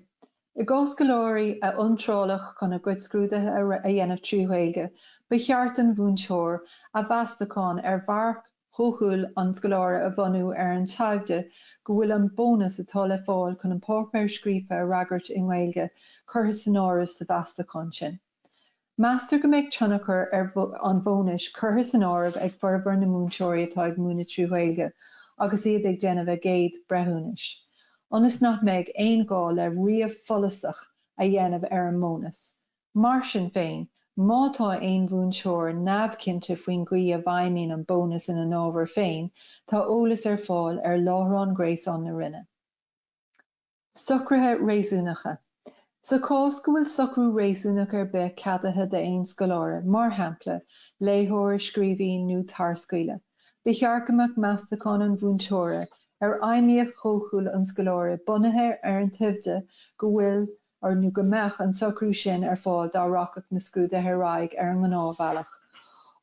I gcás scoláirí a iontráladh chun a gcuid scrúduithe a dhéanamh trí Ghaeilge, ba cheart don mhúinteoir a mheastachán ar mharc, dóchúil an scoláire a bhunú ar an toimhde go bhfuil an bónas atá le fáil chun an páipéar scríofa a fhreagairt i nGaeilge curtha san áireamh sa mheastachán sin. Meastar go mbeidh tionchar an bhónais curtha san áireamh ag formhór na múinteoirí atá ag múineadh trí Ghaeilge agus iad ag déanamh a gcéad bhreithiúnais, ionas nach mbeidh aon ghá le ríomh follasach a dhéanamh ar an mbónas. Mar sin féin, má tá aon mhúinteoir neamhchinnte faoin gcaoi a bhfeidhmíonn an bónas ina n-ábhar féin, tá eolas ar fáil ar láithreán gréasáin na Roinne. Socruithe réasúnacha Sa chás go bhfuil socrú réasúnach ar bith ceadaithe d'aon scoláire, mar shampla, léitheoir, scríobhaí nó tarscaoileadh, ba cheart go mbeadh meastachán an mhúinteora ar fheidhmíocht dhóchúil an scoláire bunaithe ar an toimhde go bhfuil an nó go mbeadh an socrú sin ar fáil dá rachadh na scrúduithe ar aghaidh ar an ngnáthbhealach.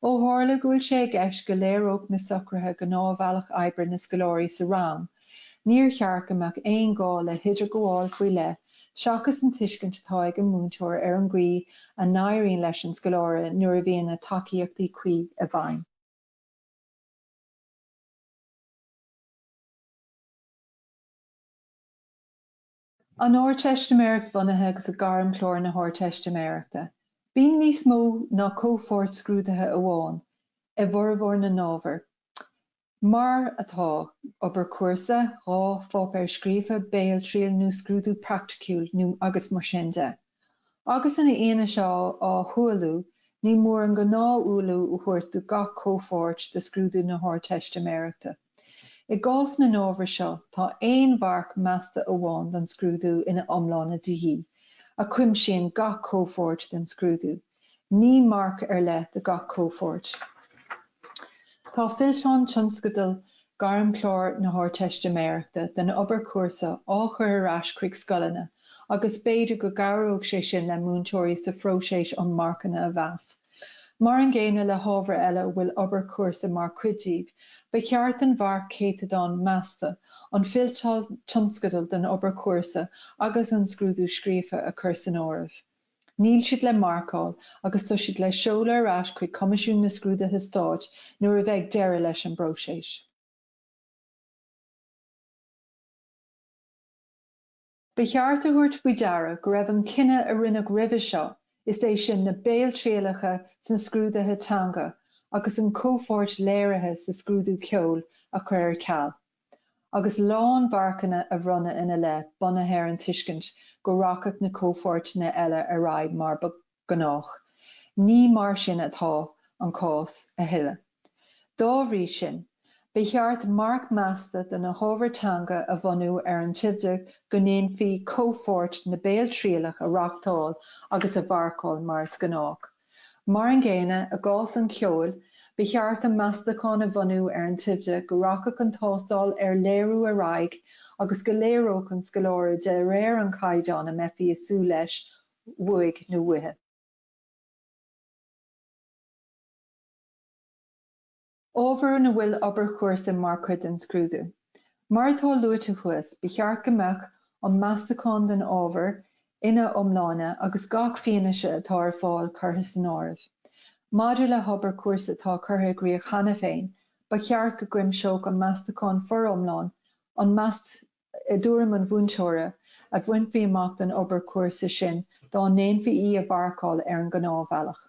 Ó tharla go bhfuil sé i gceist go léireodh na socruithe gnáthbhealach oibre na scoláirí sa rang, níor cheart go mbeadh aon ghá le hidirghabháil faoi leith seachas an tuiscint atá ag an múinteoir ar an gcaoi a n-éiríonn leis an scoláire nuair a bhíonn na tacaíochtaí cuí i bhfeidhm. An Ardteistiméireacht Bhunaithe agus Gairmchlár na hArdteistiméireachta. Bíonn níos mó ná comhpháirt scrúduithe amháin i bhformhór na n-ábhar, mar atá, obair chúrsa, dhá pháipéar scríofa, béaltriail nó scrúdú praiticiúil agus mar sin de. Agus an fhianaise á hualú, ní mór an gnáth-ualú a thabhairt do gach comhpháirt de scrúdú na hArdteistiméireachta. I gcás na n-ábhar seo, tá aon mharc measta amháin don scrúdú ina iomláine de dhíth, a chuimsíonn gach comhpháirt den scrúdú. ní marc ar leith do gach comhpháirt. Tá fillteán tionscadal Gairmchlár na hArdteistiméireachta den obair chúrsa á chur ar ais chuig scoileanna agus b'fhéidir go gcabhródh sé sin le múinteoirí sa phróiseas um marcanna a mheas. Mar an gcéanna le hábhair eile a bhfuil obair chúrsa mar chuid díobh, ba cheart an marc céatadáin measta, an fillteán tionscadal den obair chúrsa agus an scrúdú scríofa a chur san áireamh. Níl siad le marcáil agus tá siad le seoladh ar ais chuig Coimisiún na Scrúduithe Stáit nuair a bheidh deireadh leis an bpróiseas. Ba cheart a thabhairt faoi deara go raibh an cinneadh a rinneadh roimhe seo, is é sin na béaltrialacha sna scrúduithe teanga agus an chomhpháirt léirithe sa scrúdú ceoil, a chur ar ceal. agus lánmharcanna a bhronnadh ina leith bunaithe ar an tuiscint go rachadh na comhpháirteanna eile ar aghaidh mar ba ghnách. Ní mar sin atá an cás a thuilleadh. Dá bhrí sin, ba cheart marc measta do na hábhair teanga a bhunú ar an toimhde go ndéanfaí comhpháirt na béaltrialach a reachtáil agus a mharcáil mar is gnách. Mar an gcéanna i gcás an cheoil, ba cheart an meastachán a bhunú ar an toimhde go rachadh an tástáil ar léiriú ar aghaidh agus go léireodh an scoláire de réir an chaighdeáin a mbeifí ag súil leis uaidh nó uaithi. Ábhar ina bhfuil obair chúrsa mar chuid den scrúdú. Mar atá luaite thuas, ba cheart go mbeadh an meastachán den ábhar ina iomláine agus gach fianaise atá ar fáil curtha san áireamh. Maidir le hobair chúrsa atá curtha i gcrích cheana féin, ba cheart go gcuimseodh an meastachán foriomlán an meastachán, i dtuairim an mhúinteora, a bhainfí amach don obair chúrsa sin dá ndéanfaí í a mharcáil ar an ngnáthbhealach.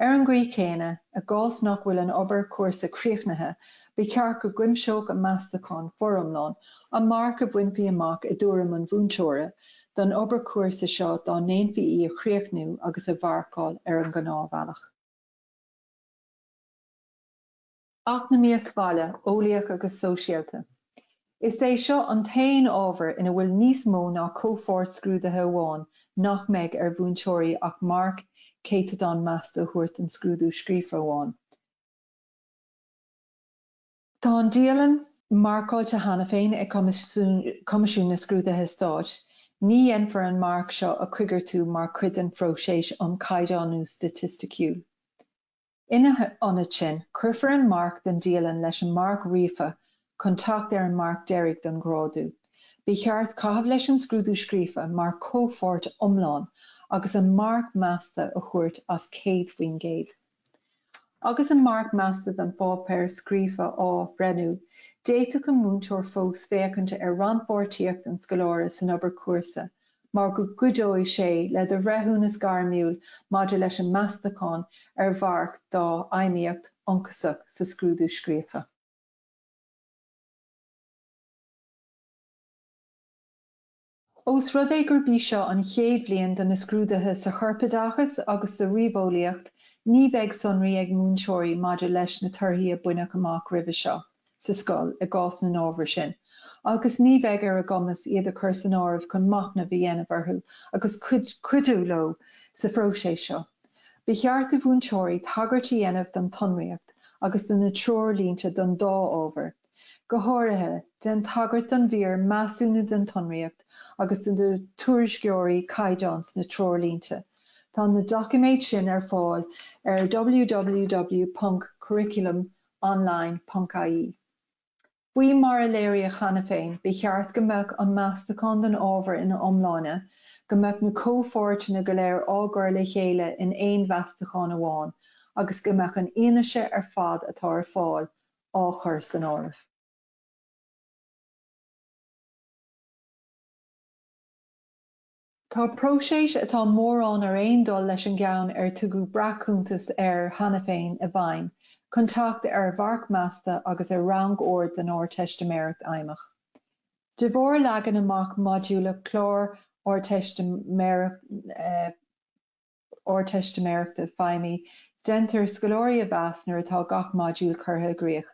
Ar an gcaoi chéanna, i gcás nach bhfuil an obair chúrsa críochnaithe, ba cheart go gcuimseodh an meastachán foriomlán an marc a bhainfí amach i dtuairim an mhúinteora don obair chúrsa seo dá ndéanfaí í a chríochnú agus a mharcáil ar an ngnáthbhealach. Eacnamaíocht Bhaile, Eolaíoch agus Sóisialta. Is é seo an t-aon ábhar ina bhfuil níos mó ná comhpháirt scrúdaithe amháin nach mbeidh ar mhúinteoirí ach marc céatadán measta a thabhairt don scrúdú scríofa amháin. Tá an dialann marcáilte cheana féin ag Coimisiún na Scrúduithe Stáit. Ní dhéanfar an marc seo a choigeartú mar chuid den phróiseas um Chaighdeánú Staitisticiúil. Ina ionad sin, cuirfear an marc don dialann leis an marc ríofa chun teacht ar an marc deiridh don ghrádú. Ba cheart caitheamh leis an scrúdú scríofa mar chomhpháirt iomlán agus an marc measta a thabhairt as 100%. Agus an marc measta don pháipéar scríofa á bhreithniú, d'fhéadfadh an múinteoir fós féachaint ar rannpháirtíocht an scoláire san obair chúrsa mar go gcuideoidh sé le do bhreithiúnas gairmiúil maidir leis an meastachán ar mharc dá fheidhmíocht ionchasach sa scrúdú scríofa. Ós rud é gurb í seo an chéad bhliain do na scrúduithe sa Chorpoideachas agus sa Ríomheolaíocht, ní bheidh sonraí ag múinteoirí maidir leis na torthaí a baineadh amach roimhe seo. sa scoil i gcás na n-ábhar sin agus ní bheidh ar a gcumas iad a chur san áireamh chun machnamh a dhéanamh orthu agus cuidiú leo sa phróiseas seo. Ba cheart do mhúinteoirí tagairt a dhéanamh don tsonraíocht agus do na treoirlínte don dá ábhar. Go háirithe, déan tagairt don mhír 'Measúnú' den tsonraíocht agus do na tuairisceoirí caighdeán sna treoirlínte. Tá na doiciméid sin ar fáil ar www.curriculum. online ponc ie. Faoi mar a léiríodh cheana féin, ba cheart go mbeadh an meastachán don ábhar ina iomláine, go mbeadh na comhpháirteanna go léir á gcur le chéile in aon mheastachán amháin agus go mbeadh an fhianaise ar fad atá ar fáil á chur san áireamh. Tá próiseas atá mórán ar aon dul leis an gceann ar tugadh breac-chuntas air cheana féin i bhfeidhm chun teacht ar mharc measta agus ar rangord don Ardteistiméireacht Fheidhmeach. De bharr leagan amach modúlach chlár Ardteistiméireachta Ardteistiméireachta Feidhmí, déantar scoláirí a mheas nuair atá gach modúl curtha i gcrích.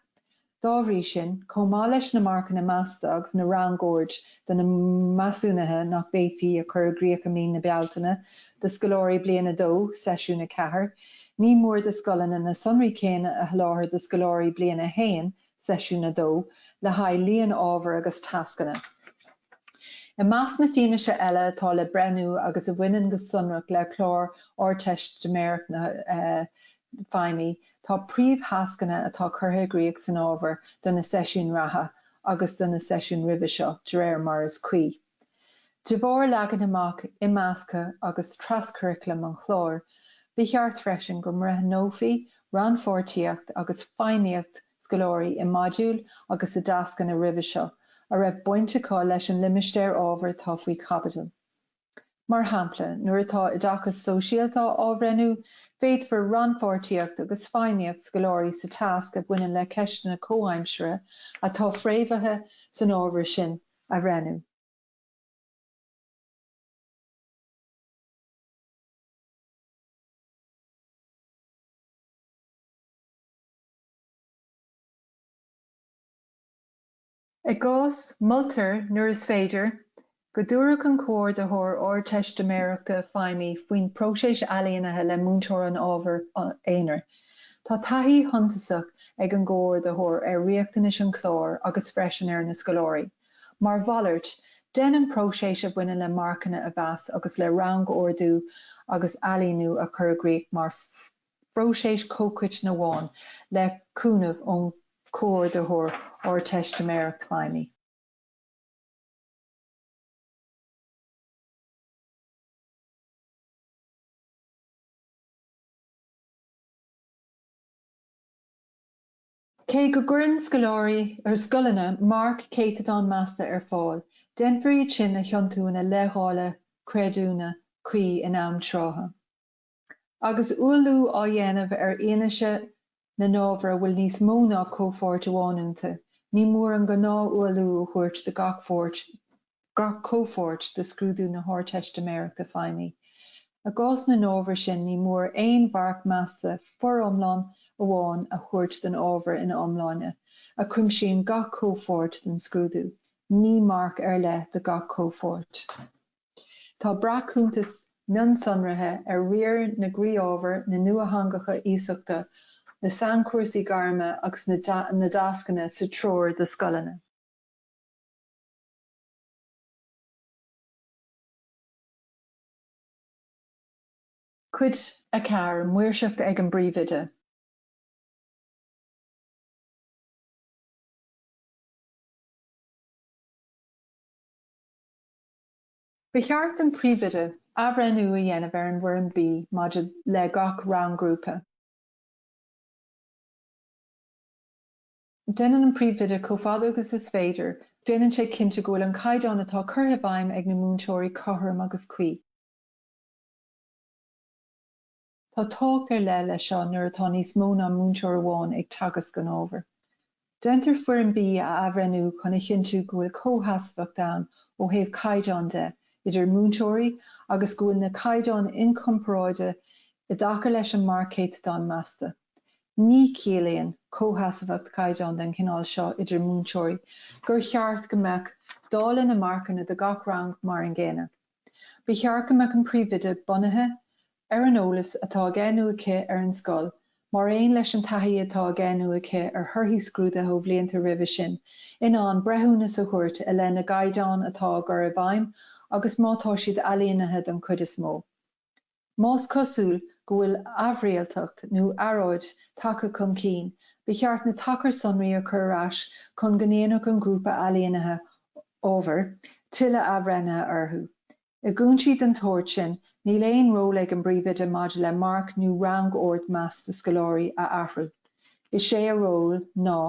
Dá bhrí sin, chomh maith leis na marcanna measta agus na rangoird do na measúnuithe nach bhféadfaí a chur i gcrích i mí na Bealtaine do scoláirí Bliain 2, Seisiún 4, ní mór do scoileanna na sonraí céanna a sholáthar do scoláirí Bliain 1 Seisiún 2, le haghaidh líon ábhar agus tascanna. I measc na fianaise eile atá le breithniú agus a bhaineann go sonrach le clár na hArdteistiméireachta Feidhmí tá príomhthascanna atá curtha i gcrích san ábhar do na seisiúin reatha agus do na seisiúin roimhe seo, de réir mar is cuí. De bharr leagan amach imeasctha agus traschuraclaim an chláir, ba cheart freisin go mbreithneofaí rannpháirtíocht agus feidhmíocht scoláirí i modúil agus i dtascanna roimhe seo a raibh baint acu leis an limistéar ábhair atá faoi chaibidil. Mar shampla, nuair atá Oideachas Sóisialta á bhreithniú, féadfar rannpháirtíocht agus feidhmíocht scoláirí sa tasc a bhaineann le ceisteanna comhaimseartha atá fréamhaithe san ábhar sin a a bhreithniú. I ngach cás, moltar, nuair is féidir, go dtabharfadh an Comhordaitheoir Ardteistiméireachta Feidhmí faoin bpróiseas ailínithe le múinteoir an ábhair aonair. Tá taithí shuntasach ag an gcomhordaitheoir ar riachtanais an chláir agus freisin ar na scoláirí. Mar mhalairt, déan an próiseas a bhaineann le marcanna a mheas agus le rangordú agus ailíniú a chur i gcrích mar phróiseas comhchoiteann amháin le cúnamh ón gComhordaitheoir Ardteistiméireachta Feidhmí. Cé go gcuireann scoláirí, ar scoileanna, marc céatadán measta ar fáil, déanfar iad sin a thiontú ina leithdháileadh creidiúna cuí in am trátha. Agus ualú á dhéanamh ar fhianaise na n-ábhar a bhfuil níos mó ná comhpháirt amháin iontu, ní mór an gnáth-ualú a thabhairt do gach pháirt gach comhpháirt de scrúdú na hArdteistiméireachta feidhmí. I gcás na n-ábhar sin, ní mór aon mharc measta foriomlán amháin a thabhairt don ábhar ina iomláine, a chuimsíonn gach comhpháirt den scrúdú, ní marc ar leith do gach comhpháirt. Tá breac-chuntas mionsonraithe ar riar na gcroí-ábhar, na nuatheangacha iasachta, na sainchúrsaí gairme agus na dtascanna sa treoir do scoileanna. Cuid 4, Maoirseacht ag an bPríomhoide. Ba cheart don Phríomhoide athbhreithniú a dhéanamh ar an bhFoirm B maidir le gach rang-ghrúpa. Déanann an príomhoide, chomh fada agus is féidir, déanann sé cinnte go bhfuil an caighdeán atá curtha i bhfeidhm ag na múinteoirí cothrom agus cuí. Tá tábhacht ar leith leis seo nuair atá níos mó ná múinteoir amháin ag teagasc an ábhair. Déantar Foirm B a athbhreithniú chun a chinntiú go bhfuil comhsheasmhacht ann ó thaobh caighdeán de idir múinteoirí agus go bhfuil na caighdeáin inchomparáide i dtaca leis an marc céatadáin measta. Ní chiallaíonn comhsheasmhacht caighdeán den chineál seo idir múinteoirí gur cheart go mbeadh dáileadh na marcanna do gach rang mar an gcéanna. Ba cheart go mbeadh an príomhoide bunaithe ar an eolas atá aige nó aici ar an scoil mar aon leis an taithí atá aige nó aici ar thorthaí scrúduithe ó bhlianta roimhe sin in ann breithiúnas a thabhairt i leith na gcaighdeán atá á gcur i bhfeidhm agus má tá siad ailínithe den chuid is mó. Más cosúil go bhfuil aimhrialtacht nó earráid tagtha chun cinn, ba cheart na tacair sonraí a chur ar ais chun go ndéanfadh an grúpa ailínithe ábhair tuilleadh athbhreithnithe orthu. I gcúinsí den tsórt sin, níl aon ról ag an bpríomhoide maidir le marc nó rangord measta scoláirí a athrú. Is é a ról ná.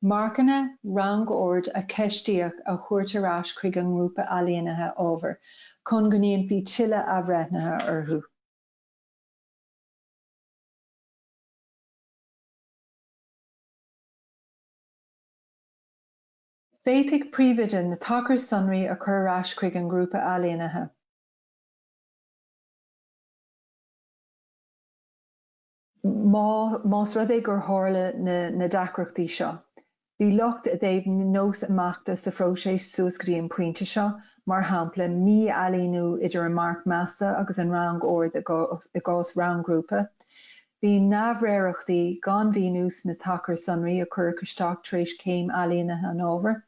Marcanna rangord a ceistíodh a thabhairt ar ais chuig an ngrúpa ailínithe ábhair chun go ndéanfaí tuilleadh athbhreithnithe orthu. Féadfaidh Príomhoide na tacair sonraí a chur ar ais chuig an ngrúpa ailínithe. Má, más rud é gur tharla na, na deacrachtaí seo, bhí locht i dtaobh nós imeachta sa phróiseas suas go dtí an pointe seo, mar shampla, mí-ailíniú idir an marc measta agus an rangord i gcás, i gcás rang-ghrúpa. Bhí neamhréireachtaí, gan mhíniú sna tacair sonraí a cuireadh isteach tar éis céim ailínithe an ábhair.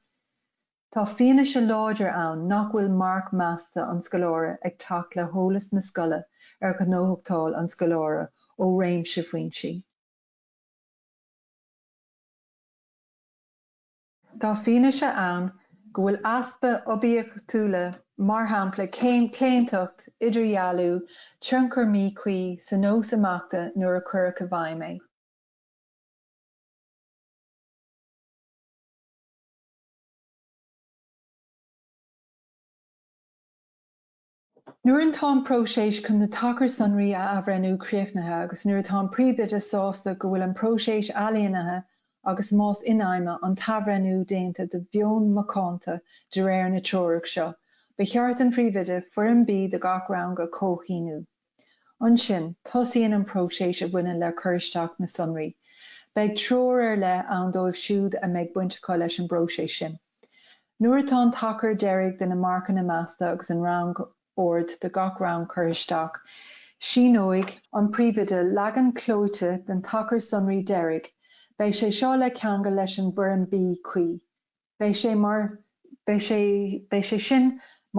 Tá fianaise láidir ann nach bhfuil marc measta an scoláire ag teacht le heolas na scoile ar ghnóthachtáil an scoláire ó réimse foinsí. Tá fianaise ann go bhfuil easpa oibiachtúla, mar shampla claontacht, idirdhealú, tionchar míchuí, sa nós imeachta nuair a cuireadh i bhfeidhm é. Nuair atá an próiseas chun na tacair sonraí a athbhreithniú críochnaithe agus nuair atá an Príomhoide sásta go bhfuil an próiseas ailínithe agus más infheidhme, an t-athbhreithniú déanta de mheon macánta de réir na Treorach seo, ba cheart don Phríomhoide Foirm B do gach rang a chomhshíniú. Ansin, tosaíonn an próiseas a bhaineann le cur isteach na sonraí. Beidh treoir ar leith ann dóibh siúd a mbeidh baint acu leis an bpróiseas sin. Nuair atá an tacar deiridh de na marcanna measta agus an rang-ord do gach rang curtha isteach, síneoidh an príomhoide leagan clóite den tacar sonraí deiridh, beidh sé seo le ceangal leis an bhfoirm B cuí. Beidh sé sin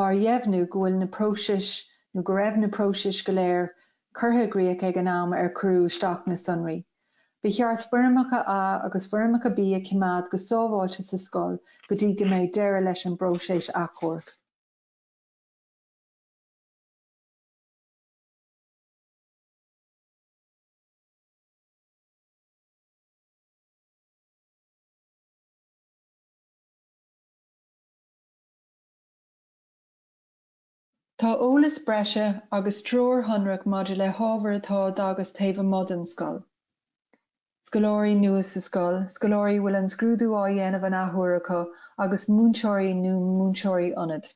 mar dheimhniú go bhfuil na próisis nó go raibh na próisis go léir curtha i gcríoch ag an am ar cuireadh isteach na sonraí. Ba cheart foirmeacha A agus foirmeacha B a choimeád go sábháilte sa scoil go dtí go mbeidh deireadh leis an bpróiseas achomhairc. Tá eolas breise agus treoir shonrach maidir le hábhair atá á dteagasc taobh amuigh den scoil, scoláirí nua sa scoil, scoláirí a bhfuil an scrúdú á dhéanamh an athuair acu agus múinteoirí nó múinteoirí ionaid,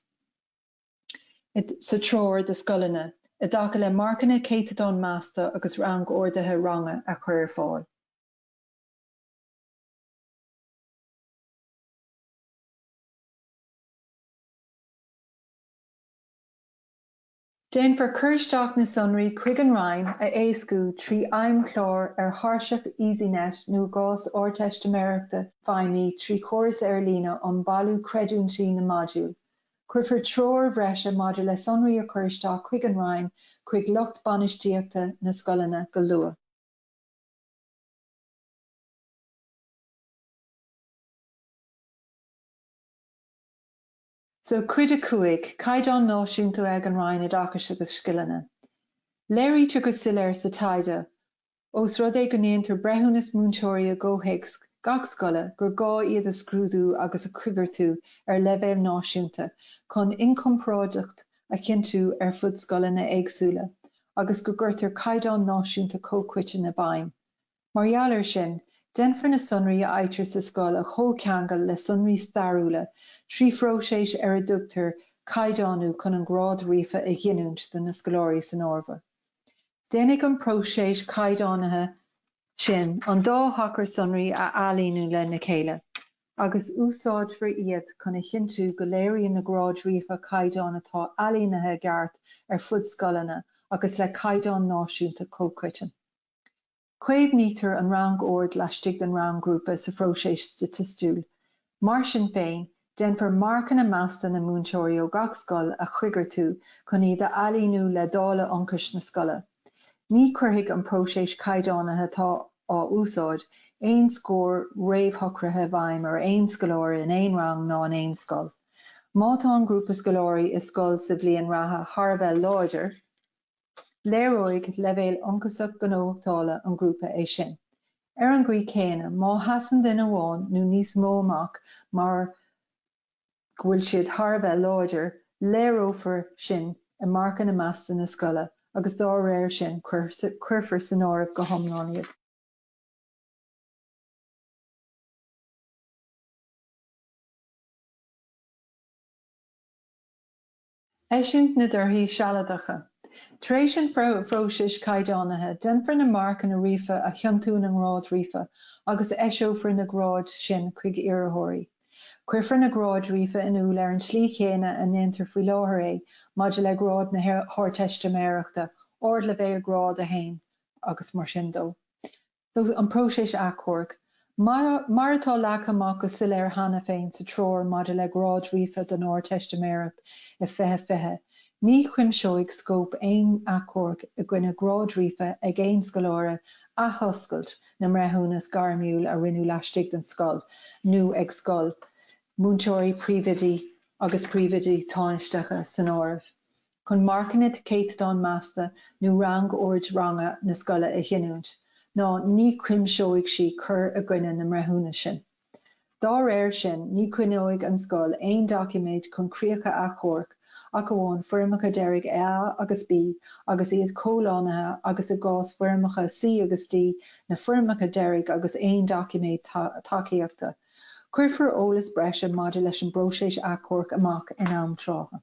sa Treoir do Scoileanna i dtaca le Marcanna Céatadáin Measta agus Rang-orduithe Ranga a Chur ar Fáil. Déanfar cur isteach na sonraí chuig an Roinn a éascú trí fheidhmchlár ar thairseach Esinet nó i gcás Ardteistiméireachta feidhmí trí chóras ar líne um bailiú creidiúintí na modúl. Cuirfear treoir bhreise maidir le sonraí a chur isteach chuig an Roinn chuig lucht bainistíochta na scoileanna go luath. Seo cuid a cúig, Caighdeán Náisiúnta ag an Roinn Oideachais agus Scileanna. Léirítear go soiléir sa taighde, ós rud é go ndéantar breithiúnas múinteoirí i gcomhthéacs gach scoile, gur gá iad a scrúdú agus a choigeartú ar leibhéal náisiúnta chun inchomparáideacht a chinntiú ar fud scoileanna éagsúla agus go gcuirtear caighdeán náisiúnta comhchoiteann i bhfeidhm. Mar gheall ar sin, déanfar na sonraí a fhaightear sa scoil a chomhcheangal le sonraí stairiúla trí phróiseas ar a dtugtar caighdeánú chun an grád ríofa a ghiniúint do na scoláirí san ábhar. Déanfaidh an próiseas caighdeánaithe sin an dá thacar sonraí a ailíniú lena chéile agus úsáidfear iad chun a chinntiú go léiríonn na gráid ríofa caighdeán atá ailínithe i gceart ar fud scoileanna agus le caighdeán náisiúnta comhchoiteann. Caomhnaítear an rangord laistigh den rang-ghrúpa sa phróiseas staitistiúil. Mar sin féin, déanfar marcanna measta na múinteoirí ó gach scoil a choigeartú chun iad a ailíniú le dáileadh ionchais na scoile. Ní chuirfidh an próiseas caighdeánaithe atá á úsáid aon scór réamhshocraithe i bhfeidhm ar aon scoláire in aon rang ná in aon scoil. Má tá an grúpa scoláirí i scoil sa bhliain reatha thar a bheith láidir, Léireoidh leibhéal ionchasach gnóthachtála an ghrúpa é sin. Ar an gcaoi chéanna, má sheasann duine amháin nó níos mó amach mar go bhfuil siad thar a bheith láidir, léireofar sin i marcanna measta na scoile agus dá réir sin cuirfear san áireamh go hiomlán iad. Eisiúint na dtorthaí sealadacha. Tar éis an phróisis caighdeánaithe, déanfar na marcanna ríofa a thiontú ina ngráid ríofa agus eiseofar na gráid sin chuig iarrthóirí. Cuirfear na gráid ríofa in iúl ar an tslí chéanna a ndéantar faoi láthair é maidir le gráid na hArdteistiméireachta, Ardleibhéal Grád 1, agus mar sin de. An próiseas achomhairc. Mar atá leagtha amach go soiléir cheana féin sa Treoir maidir le Gráid Ríofa don Ardteistiméireacht 2020, ní chuimseoidh scóip aon achomhairc i gcoinne Gráid Ríofa ag aon scoláire athoscailt na mbreithiúnas gairmiúil a rinneadh laistigh den scoil nó ag scoil, múinteoirí, príomhoidí agus príomhoidí tánaisteacha san áireamh. chun marcanna céatadáin measta nó rangord ranga na scoile a ghiniúint, ná ní chuimseoidh sí cur i gcoinne na mbreithiúnas sin. Dá réir sin, ní choinneoidh an scoil aon doiciméid chun críocha achomhairc ach amháin foirmeacha deiridh A agus B agus iad comhlánaithe agus, i gcás foirmeacha C agus D, na foirmeacha deiridh agus aon doiciméid tacaíochta. Cuirfear eolas breise maidir leis an bpróiseas achomhairc amach in am trátha.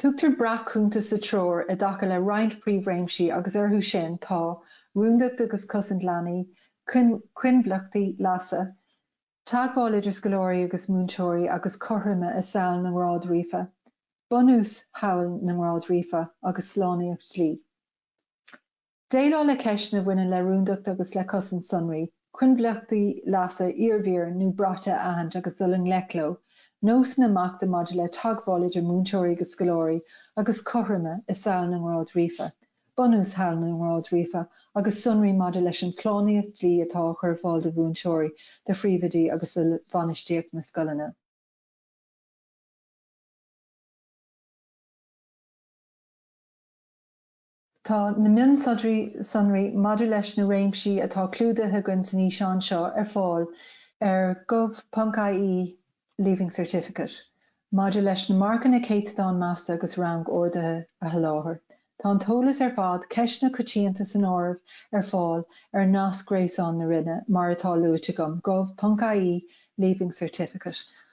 Tugtar breac-chuntas sa treoir i dtaca le roinnt príomhréimsí agus orthu sin tá, rúndacht, agus cosaint leanaí, coinbhleachtaí leasa, teagmháil idir scoláirí agus múinteoirí agus cothroime i samhail na ngrád ríofa, bunús shamhail na ngrád ríofa, agus slánaíocht dlí. Déileáil le ceisteanna a bhaineann le rúndacht agus le cosaint sonraí, coinbhleachtaí leasa iarbhír nó braite a aithint agus dul i ngleic leo, nósanna imeachta maidir le teagmháil idir múinteoirí agus scoláirí agus cothroime i samhail na ngrád ríofa, bunús shamhail na ngrád ríofa agus sonraí maidir leis an tslánaíocht dlí atá á chur ar fáil do mhúinteoirí, do phríomhoidí agus do bhainistíocht na scoileanna. Tá na mionsonraí maidir leis na réimsí atá clúdaithe againn san fhíseán seo ar fáil ar gov.ie Leaving Certificate. Maidir leis na marcanna céatadán measta agus rangorduithe a sholáthar, tá an t-eolas ar fad, ceisteanna coitianta san áireamh, ar fáil ar nasc gréasáin na Roinne mar atá luaite agam, gov.ie Leaving Certificate.